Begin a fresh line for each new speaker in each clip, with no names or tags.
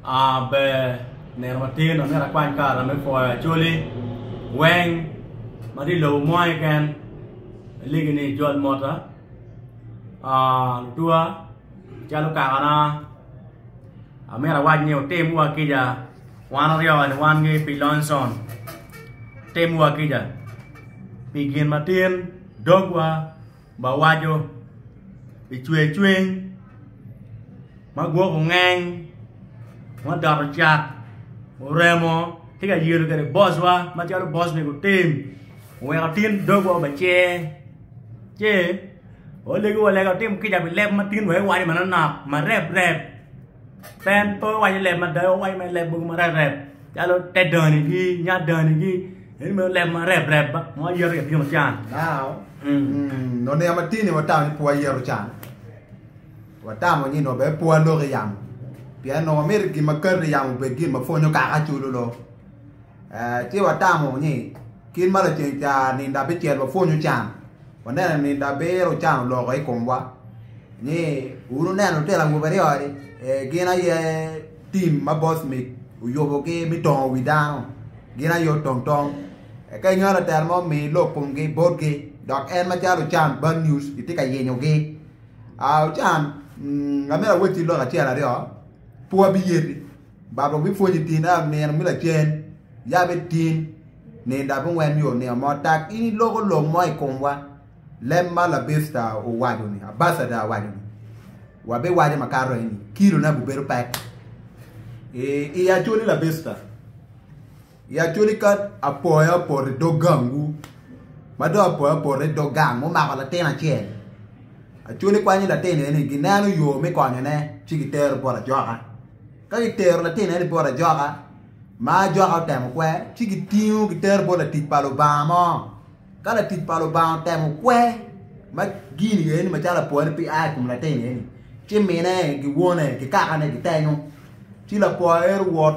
A Ber nino matir ma myero akwany karata me pwoyo Acholi weng ma tye i lobo mo keken alegi ni jol mota lutuwa calo kakana amyero awac ni otim wa kica wan aryo kani wan ki pi Lonson otim wa kica pi gin matin dogwa. ma waco i cwer cwiny ma gwok ongeng ma odoto cak oremo tye ka yelo kwede bocwa macalo boc ni gutim oweko tin dogwa obecer ci olego wa lega otim kica pi leb ma tin wek iwaco manonok marep rep. Pen pe owaco leb mada, owaco me leb mogo marep rep calo te dani gi, nya dani gi. Eni me leb marep rep ba, mo ayero ya tino can. Now,
mm, nongo yam atini watamo ni pe wayero can. Watamo ni nongo bene pe walok i yamo. Pien nongo wamito gin ma kati i yamo obed gin ma pwonyo kaka culo lok. Ci watamo ni, Kit ma laceng ca nindo abicel wapwonyo can, waneno ni nindo abiro can oloko i komwa. Ni, wun wuneno lutino awobe aryo-ni, gin aye tim ma boc mig oyubogi me tongo wi dano, gin aye otong tong. Eka inongo latel mo omiyo ilok komgi botgi, dok en macalo ocan bad news itye ka yenyogi. Ocan, amito awacci lok acel aryo, pe wabiyeti. Baba obipwonyi tin a nino me lacen, ya bitin nindo abungwen yo nino mo tak in iloko lok mo i komwa. Leb ma labista owaco-ni, abacada owaco-ni, wabiwaco makato eni, kilone agubedo pek. I, i acoli labista. I actually ka apoyo apoto i dog gangwu ma dong apoyo apoto i dog gang mumako latin acel actually kwanyo latin eni gineno yo me konyone ci gitero bot ajoka ka gitero latin eni bot ajoka ma ajoka otemo kwe ci gitingo gitero bot latic pa Lubanga mo ka latic pa Lubanga otemo kwe ma gin eni macalo apoyo ni pe a i kom latin eni ci mine ki wone ki kakane gitenyo ci lapoyo ero wot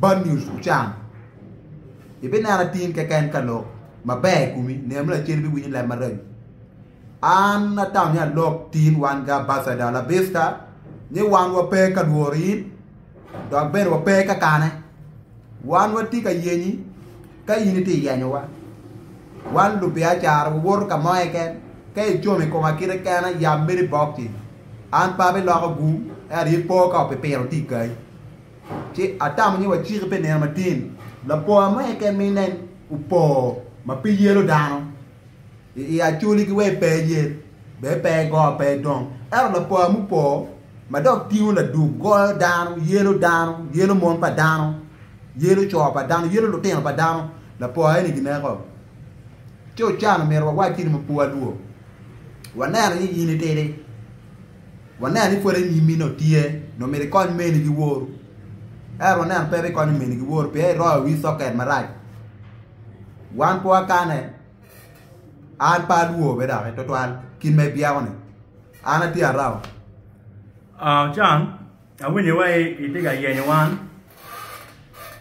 Bad News Ochan, Ibineno atir keken ka lok maber i komi, nino me lacen ibiwinyo leb maraco. An atamo ni alok tin wan ga Ambassador La Vista ni wan wape ka lworo in dok bene wape ka kane. Wan watye ka yenyi ka in itye yenyowa. Wan lubiacara wawoto ka mo keken ka icomo i koma kite kena yam meri bok ci. An pe abiloko gum ento ipo ka opipiro tye i kayi. ci atamo ni waciki pi nino matin. Lapoya mo eke mi nen opo ma pe yelo dano, i i acoli ki wee pe yel, be pe go pe dong. Ento lapoya mupo ma dok tingo laduk goyo dano, yelo dano, yelo mon pa dano, yelo co pa dano, yelo lutino pa dano, lapoya eni gineko. Ci ocan omito wawac-ci ni mapua lwo, waneno ni in itidi. Waneno ni pwod anyimmi nongo tye, nongo myero ikony meni ki woru. Ento waneno pe ibikonyo meni ki woru pien iroyo wi soket marac. Wan pe wakane, an pe alwor bene doki twatwal kit ma ibyeko-ni. An atye araba. Ah,
Ochan, awinyo iwaci ni itye ka yenyo wan.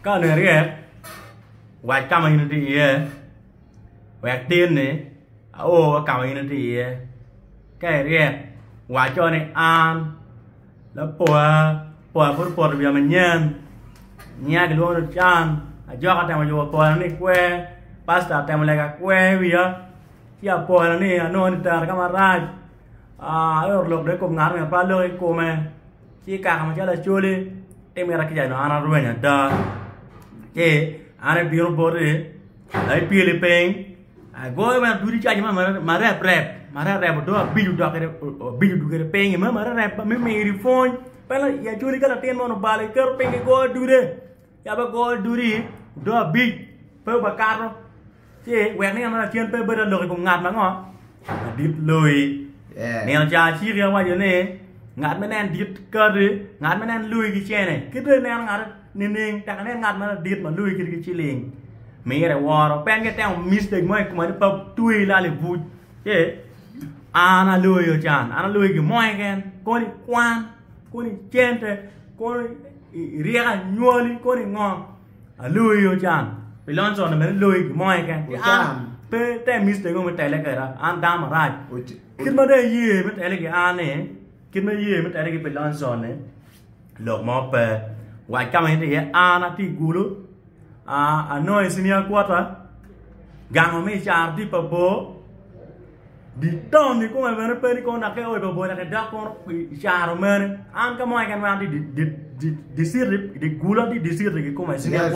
Ka onongo iryek, wac ka ma in itye iye. wek tinni ao wa kama in itye iye ka iryek waco ni an lapwa pwa pud opoto wiya manyen nyinga kilwongo ni Ocan ajoka otemo yubo pwona ni kwer pasta otemo lega kwer wiya ci apwoyo ni anongo ni tera kama rac ayot lok dong i kom ngat pe aloko i kome ci kaka macalo acholi timina kica dong an arwenyo ada ci an abino boti Ka ipyeli piny, agoyo me adwodi caji ma marep rep marep rep odo abico dok abico dok kede piny me marep rep me miri pwony pien i acwali ka latin mo obalo iketo piny igoyo adude yab agoyo adudi odo abic pe bakato ci wek ni en ma lacen pe bedo alok i kom ngat ango. Adit loyi. Nino ca aciki awaco ni ngat ma nen dit kati ngat ma nen loyi ki cene ki dong ineno ngati nining tek inen ngat ma dit ma loyi kiti ki ciling mire iworo pien ka itemo mistake mo i kome ni pe tweyi lal i buc ci an aloyo can an aloyi gin mo keken kono i kwan kono i cente kono i ryeko anywali kono i ngo Aloi ocan pi lonyo cone mene loi gimo keken ki an pe te mis tego me tele keda an dano marac kit ma dong iye me tele ki an ni kit ma iye me tele ki pi lonyo cone lok mo pe wac ka ma in iye an ati gulu anongo i cinia kwota gango me caro tye pa bor. Diton ikome bene pe ni kono dok eoyo babola ki dok kono i caro mere an ka mo keken ma an tye i dye citi i dye gulo an tye i dye citi kikome.